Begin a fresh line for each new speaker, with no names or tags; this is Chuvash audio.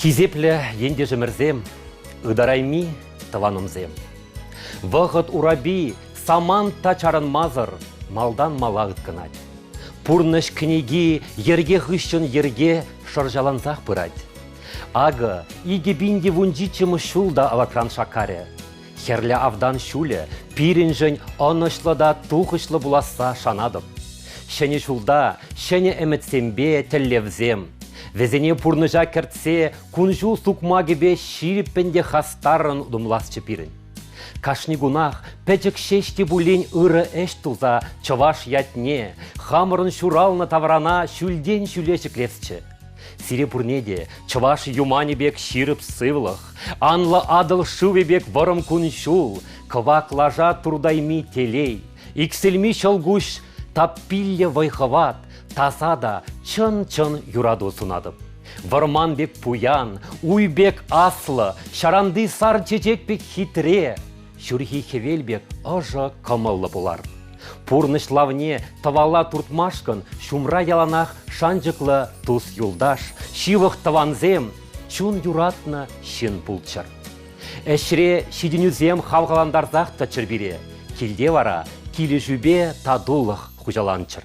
Хисеплӗ ентешӗмӗрсем, ытарайми тӑванӑмсем! Вӑхӑт урапи самант та чарӑнмасӑр малтан мала ыткӑнать. Пурнӑҫ кӗнеки йӗрке хыҫҫӑн йӗрке шӑрҫалансах пырать. Акӑ, икӗ пин тивунҫиччӗмӗш ҫул та аватран шаккарӗ. Хӗрлӗ автан ҫулӗ пирӗншӗн ӑнӑҫлӑ та тухӑҫлӑ пуласса шанатӑп. Ҫӗнӗ ҫулта ҫӗнӗ ӗмӗтсемпе тӗллевсем, вӗсене пурнӑҫа кӗртсе кун-ҫул сукмакӗпе ҫирӗппӗн те хастаррӑн утӑмласчӗ пирӗн. Кашни кунах пӗчӗк ҫеҫ те пулин ырӑ ӗҫ туса чӑваш ятне, хамӑрӑн ҫуралнӑ таврана ҫӳлтен ҫӳле ҫӗклесчӗ. Сире пурне те чӑваш юманӗ пек ҫирӗп сывлӑх, анлӑ Атӑл шывӗ пек вӑрӑм кун-ҫул, кӑвак лаша туртайми телей, иксӗлми ҫӑлкуҫ таппилле вӑй-хӑват, таса та чӑн-чӑн юрату сунатӑп. Вӑрман пек пуян, уй пек аслӑ, ҫаранти сар чечек пек хитре, Ҫурхи хӗвел пек ӑшӑ, кӑмӑллӑ пулар. Пурнӑҫ лавне тӑвала туртмашкӑн ҫумра яланах шанчӑклӑ тус-юлташ, ҫывӑх тӑвансем, чун юратнӑ ҫын пулччӑр. Ӗҫре ҫитӗнӳсем хавхалантарсах тӑччӑр пире, килте вара килӗшӳпе татулӑх хуҫаланччӑр.